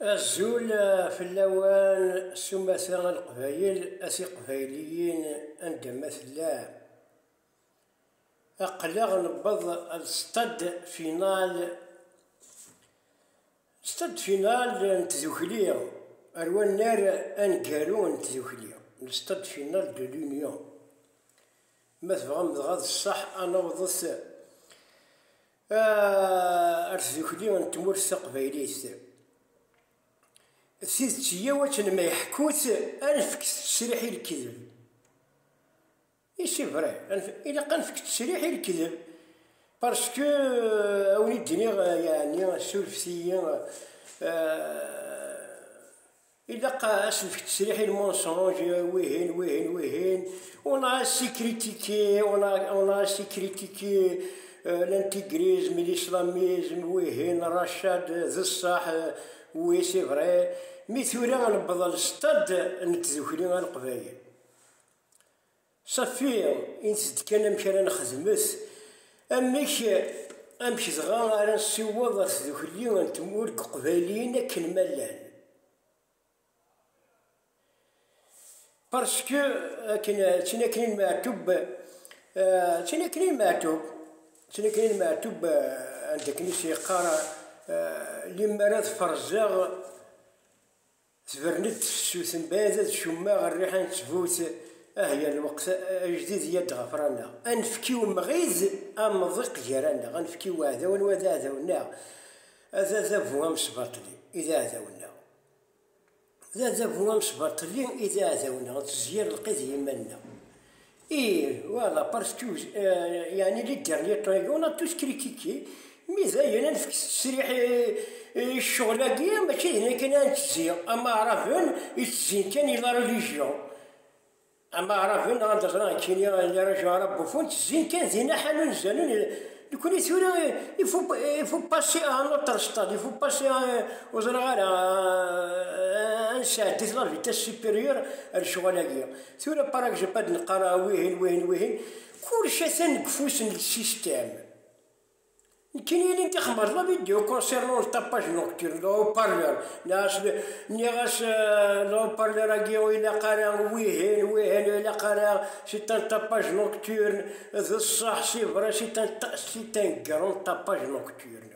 Azul fell-awen s umata a Leqbayel, a Tiqbayliyin anda ma tellam. Aql-aɣ newweḍ ar stade final, stade final n tdukli, ar wannar aneggaru n tdukli, le stade final de l'union. Ma tebɣam dɣa d ṣṣeḥ ad naweḍet Ar tdukli n tmurt taqbaylit. Tidet yya wakken ma yeḥku-tt, anefk ttesriḥ i lkedeb. I c'est vrai, ilaq anefk ttesriḥ i lkedeb parce que a wen-id-iniɣ yeɛni surfet-iyi Ilaq asefk tesriḥ il mensonge, wihin, wihin, wihin. On a assez critiqué, on a, on a assez critiqué euh, l'intégrisme, l'islamisme, wihin, rachad, d ṣṣaḥ, oui, c'est vrai. Mi tura newweḍ al stade n tdukli al qbayel. Safi ins-d kan amek ara nexdmet, amek amek dɣa ara nsiweḍ ɣer tdukli n tmura n Yeqbayliyen akken ma llan. Parce que akken d tinakni n Meɛtub, d tinakni n Meɛtub, d tinakni n Meɛtub anda akken i s-yeqqar, limmer ad ferzeɣ, Tebren-d tefsut mbaɛd d cummaɣ rriḥa n ttbut ah ya lweqt ajdid ya d-ɣefraneɣ a nefk i umɣid amḍiq gar-aneɣ a nefk i uɛdaw anwa d aɛdaw neɣ d adabu amesbaṭli i d aɛdaw neɣ d adabu amesbaṭli i d aɛdaw neɣ ntezger lqid i yiman-nneɣ Ih, wa d apar tjuz, yeɛni li dernier triangle a tous critiquer, mi dayen ad nefk ttesriḥ i ccɣel-agi, mačči d nekk kan ara nettezzi, am Aɛraben i ttezzin kan i la religion, am Aɛraben neɣ anda ẓriɣ nekkini les régions arabophones ttezzin kan di naḥa n unzalen, nekkni tura il faut il faut passer à un autre stade, il faut passer à ur ẓriɣ ara ad nesɛeddi-t la vitesse supérieure ar ccɣel-agi. Tura parak jep ad nqar ah wihin wihin wihin, kullec atan deg ufus n lsistem. Nekkini ilin d ixmar la vidéo concernant le tapage nocturne de haut-parleur, nniɣ-as nniɣ-as le haut-parleur agi ur ilaq ara wihin wihin ur ilaq ara c'est un tapage nocturne d ṣṣeḥ c'est vrai c'est un c'est un grand tapage nocturne.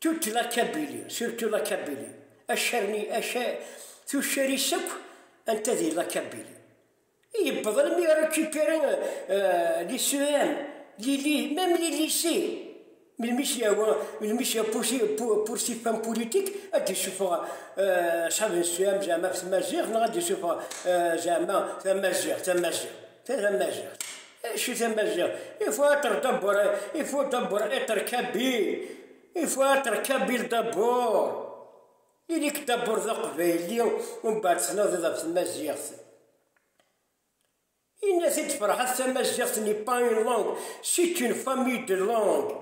Toute la Kabylie, surtout la Kabylie, acarni, aca, tuccar-is akk anta di la Kabylie. I yewweḍ almi i récupérer euh, les CEM, les, même les lycées. Melmi s-yawa, melmi s-ya poursuivre femme politique, ad d-isuffeɣ euh, asab n CEM zeɛma ɣef tmaziɣt, neɣ ad d-isuffeɣ euh, zeɛma tamaziɣt, tamaziɣt. Tamaziɣt. Acu tamaziɣt? Il faut être d'abord, il faut d'abord être kabyle. Il faut être kabyle d'abord. Ili-k d'abord d aqbayli, umbeɛd tnadiḍ ɣef tmaziɣt. Inna-t-id Ferḥat tamaziɣt n'est pas une langue, c'est une famille de langues.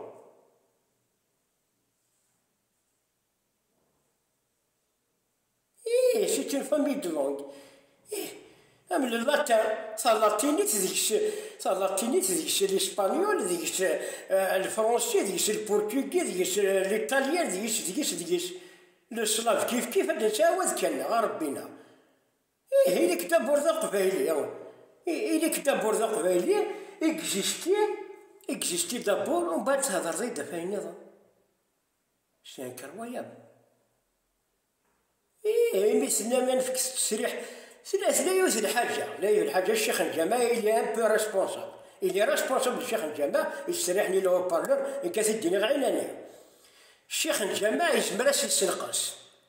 Ih, c'est une famille de langues. Ih, am le latin, talatinit deg-s, talatinit deg-s l'espagnol, deg-s euh, le français, deg-s le portugais, deg-s euh, l'italien, deg-s, deg-s, deg-s. Le slave kif kif ad nettɛawad kan neɣ Ṛebbina. Ih, ili-k d abur d aqbayli. I- Ili-k d abur d aqbayli, existi, existi d abur, umbeɛd thedreḍ-iyi-d ɣef ayen nniḍen. Senker wayeḍ. Ih, imi s-nnan ad nefk ttesriḥ, tella tella yiwet n lḥaǧa, la yiwet n lḥaǧa, ccix n ǧama il est un peu responsable. Il est responsable d ccix n ǧama, yettserriḥen i l'haut-parleur, nekk ad t-id-iniɣ ɛinani. Ccix n ǧama yezmer ad s-yessenqes,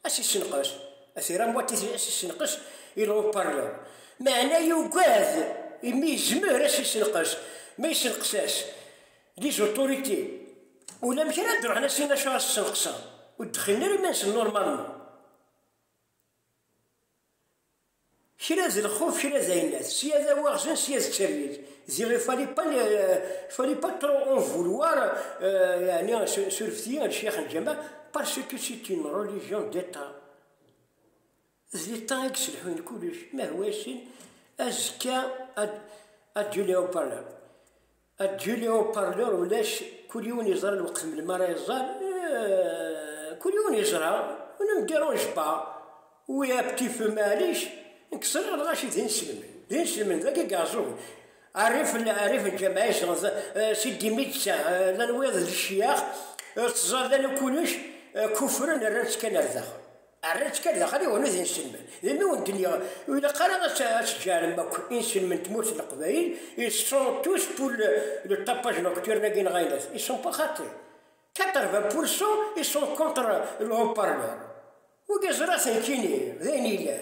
ad s-yessenqes, ad t-irr am watit ad s-yessenqes i l'haut-parleur. Meɛna yugad, imi yezmer ad s-yessenqes, ma yessenqes-as, Les autorités ulamek ara d-ruḥen a sin acu as ssenqseɣ ur d-xillen ara iman-nsen normalement kra d lxuf kra d ayennat sya d awaɣzen sya d tirmit ziɣ il fallait pas il fallait pas trop en vouloir yani surfet-iyi lcix n lǧameɛ parce que c'est une religion d'état D ta i yesselḥuyen kullec, ma d wass-n, azekka ad d-yuli haut-parleur. Ad d-yuli haut-parleur ulac, kul yiwen yeẓra lweqt melmi ara iẓer, kul yiwen yeẓra, on ne me derange pas, oui un petit peu maɛlic, nekk ẓriɣ lɣaci d ineslmen, d ineslmen, d agi Garzug, rrif n lǧameɛ izedɣen da, Sidi Medsa, llan wiyaḍ d ccyax, ur teẓẓar d anu kullec, kuffren rran-tt kan ar daxel. Rran-tt kan daxel i wannuz inselmen. D imi ur d-nniɣ, ur ilaq ara ad teǧǧarem akk inselmen n tmurt n Leqbayel, ils sont tous pour le, le tapage nocturne-agi neɣ ayen dat, ils sont pas xaṭi. 80 pour cent ils sont contre le haut-parleur. Wigi ẓra-ten kini, d ayen yellan.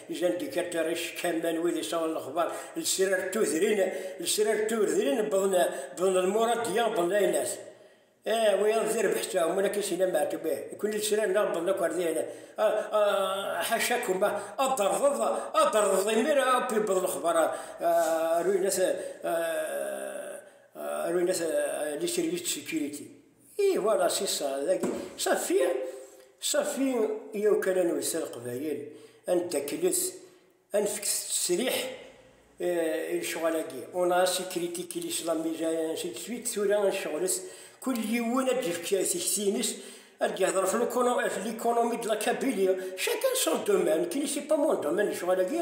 Jean Decateris, Kamma n wid yesɛun lexbar, lesrar d tudrin, lesrar d tudrin wwḍen lmuradiyya, wwḍen aynas. Eh, wiyaḍ d irbeḥ ttɛumun akin si la Meɛtub, eh, nekkni lesrar-nneɣ wwḍen akk ar dihin. Ḥaca-kum, ad d-terḍeḍ, ad d-terḍeḍ imir akk yewweḍ lexbar ar uynas, ar uynas Lisserie de Securite. I voilà si ça dagi safi safi yaw kan ad nwet leqbayel ad neddaklet ad nefket ttesriḥ eh, i lecɣal-agi on a assez critiqué l'islam déjà et ainsi de suite tura ad nceɣlet kul yiwen ad d-yefk tikti-nnes ad d-yehder ɣef l'économie de la Kabylie chacun son domaine qui ne sait pas mon domaine lecɣal-agi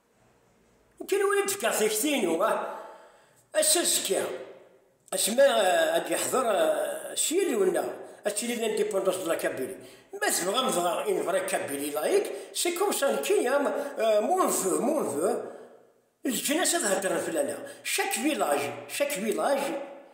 Nekni ur d-fkeɣ tikti-inu. Ass azekka, asmi ad d-yeḥḍer s yillu-nneɣ, ad tili l'indépendance de la Kabylie. Ma tebɣam dɣa une vraie Kabylie laïque, c'est comme ça, nekki am mon voeu, mon voeu, leǧnas ad heddren fell-aneɣ, chaque village, chaque village,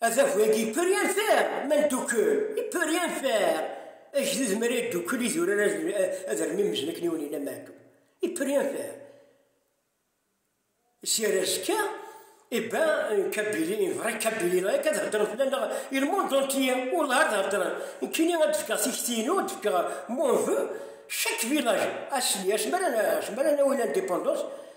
Adabu-agi il peut rien faire, ma ndukkel, il peut rien faire. Agdud mi ara yeddukkel idurar ad rmimzen akken iwen yella meɛdum. Il peut rien faire. Si ar azekka, eh ben, un Kabili, un vrai Kabili, là, kad heddren fell-aneɣ, et le monde entier, wallah ad heddren. Nekkini ad d-fkeɣ tikti-inu, ad d-fkeɣ mon vœu, chaque village, asmi, asmi ara, asmi ara nawi l'indépendance,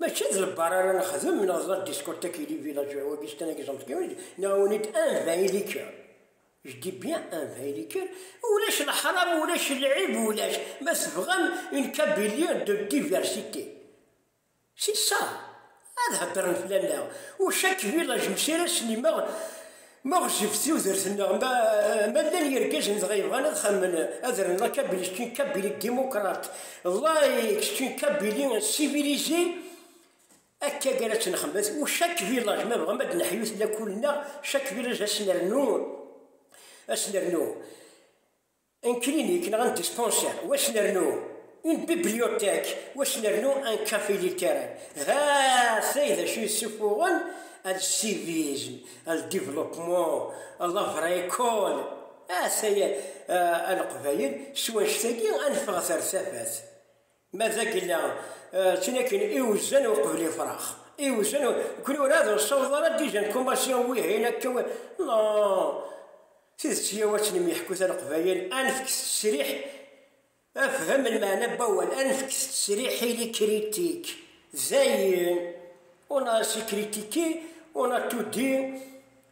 Mačči d lebbar ara nexdem, neɣ d la discothèque ili village wagi s kan agi ẓemt kan, nɛawen-id un vin liqueur, je dis bien un vin liqueur, ulac leḥram ulac lɛib ulac, ma tebɣam une Kabylie de diversité c'est ça, ad heddren fell-aneɣ, ou chaque village messi ara snimeɣ, Maɣef ɣef tudert-nneɣ ma llan yergazen dɣa yebɣan ad xemmen ad rren la Kabili kečč n Kabili ddimukrat, lay kečč n Kabili sivilise, akka i ara tt-nxemmet u chaque village ma bɣam ad d-neḥyut lakul-nneɣ chaque village ad s-nernu ad s-nernu. Un clinique neɣ un dispensaire wac nernu, une bibliothèque wac nernu un café littéraire. Hatay d acu yessuffuɣen al civisme, al développement, la vraie école. Hatay a Leqbayel s wanect-agi ad neffeɣet ar tafat. Ma d agella, ttun akken iwzan uqbel ifrax. Iwzan, kuni ur ad nṣawḍ ara dijan kumasyon wihin akka, no, tidet yiw ad tt-nemyeḥku taleqbayel, ad nefk ttesriḥ, afhem n meɛna n wawal, ad nefk ttesriḥ i likritik, dayen, on a essayé critiquer, on a tout dit,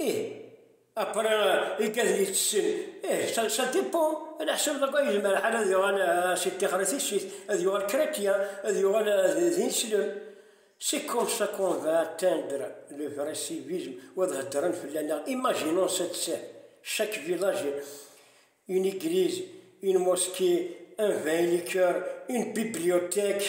Ih, apre ikka d yettessin, ih sa depo ala ḥsab d akken yezmer lḥal ad yuɣal si ṭixer i tissit, ad yuɣal kretyen, ad yuɣal d ineslem, c'est comme ça qu'on va atteindre le vrai civisme, wa ad heddren fell-aneɣ, imaginons cette scène, chaque village a une église, une mosquée, un vin et liqueurs, une bibliothèque.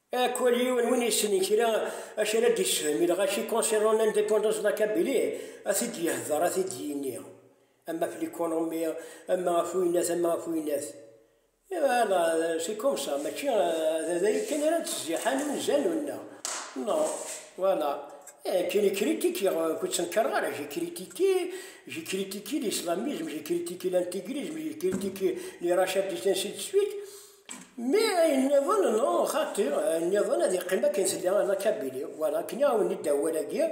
Akwal yiwen win yessnen kra acu ara d-yessefhem i lɣaci concernant l'indépendance de la Kabylie, ad t-id-yehder, ad t-id-yini, ama ɣef l'économie, ama ɣef wiynat, ama ɣef wiynat. Voilà, c'est comme ça, mačči d dayi kan ara d-ttziḥan unzalen-nneɣ. Non, voilà. Eh, je ne critique, ur ttenkareɣ ara, j'ai critiqué, j'ai critiqué l'islamisme, j'ai critiqué l'intégrisme, j'ai critiqué les rachats de terres ainsi de suite, Mi ayen nniḍen, no, xaṭi, ayen nniḍen ad yeqqim akken tella anakabili. Wala, akken iɛawen-id awal-agi,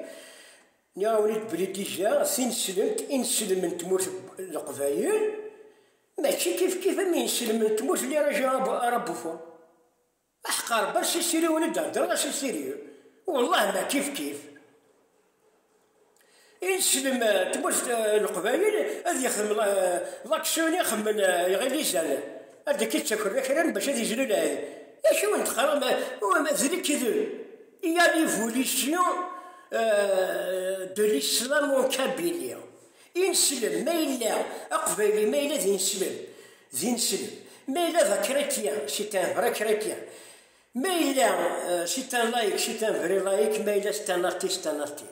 iɛawen-id belli dija tineslemt, ineslem n tmurt n Leqbayel, mačči kifkif am yineslem n tmurt n Liraj ara Buffon. Aḥeqq Rebbi a Sisiri win i d-heddreɣ a Sisiri, wellah ma kifkif. I teslem tmurt n Leqbayel ad yexdem laksyon i xemmen Iɣilizan, ad d-k-ittaker akram bac ad izlu lɛid. Acu n texram d lekdeb? Il y a l'évolution de l'islamo-kabylie. Ineslem, ma yella aqbayli, ma yella d ineslem, d ineslem. Ma yella d akrityen, c'est un vrai chrétien. Ma yella si tan like, si tan vrai like, ma yella si tan arti, si tan arti.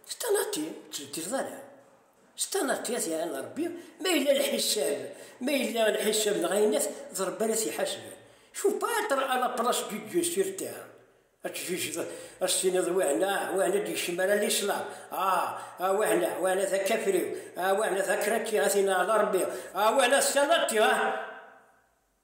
Si tan arti, ttbeddileḍ ara. Si tan arti, ad yaɛan Rebbi, ma yella lḥisab, ma yella lḥisab neɣ ayennat, d Rebbi ara t-iḥasben. Faut pas être à la place du Dieu sur terre. Ad tjijdeḍ, ad s-tiniḍ wehna, wehna d-yekcem ara l'islam, ah, ah wehna, wehna d akafriw, ah wehna d akratyi, a tin ɛla Rebbi, ah wehna si tan arti, ah.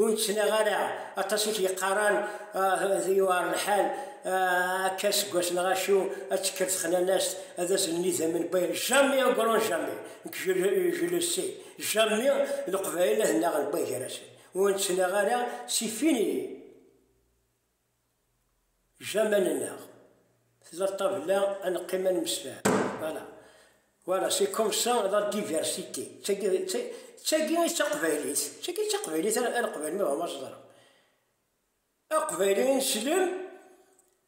ur nettnaɣ ara aṭas i t-yeqqaran ah, yuɛer lḥal ah, akka seg wass neɣ acu ad tekker texnanast ad asen-nni idammen bay jami agron jami nekk jelesi jami leqbayel ad naɣen bay gar-asen ur nettnaɣ ara si fini Jamal nneɣ, tella ṭṭabla ad neqqim ad nemsefham. Voilà. Voilà, c'est comme ça la diversité. D tagi, d ta- d tagi i d taqbaylit. D tagi i d taqbaylit ara ara qbalen ma bɣan ma ẓedren. Aqbayli i neslem,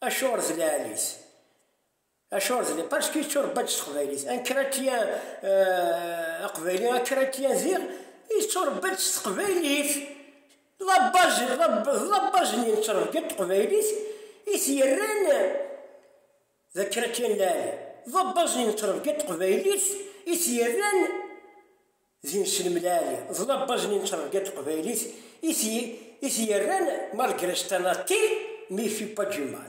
acuɣer d lɛali-t. Acuɣer d li? Parce que yetturebba-d s teqbaylit. Un chrétien, aqbayli, un chrétien diɣ yetturebba-d s teqbaylit. D la base, d la base n yettrebga n teqbaylit i t-yerran d un chrétien n lɛali. D la base n yettrebga n teqbaylit i t-yerran d ineslem n lɛali. D la base n yettrebga n teqbaylit i t-yerran malgré c'est un athée mais il fait pas du mal.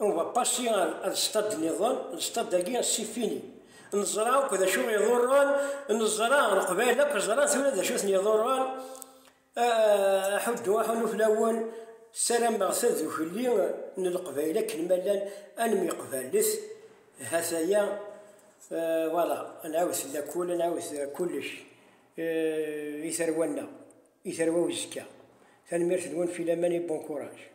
On va passer ar ar stade nniḍen, stade agi c'est fini. Neẓra akk d acu iḍurren, neẓra leqbayel akk ẓran tura d acu ten-iḍurren. Aḥuddu, aḥunnu fell-awen, ssarameɣ tadukli n leqbayel akken ma llan ad nemyeqbalet, ha-t-aya, voilà, ad nɛawed lakul, ad nɛawed kullec i tarwa-nneɣ, i tarwa uzekka. Tanemmirt-nwen, filaman et bon courage.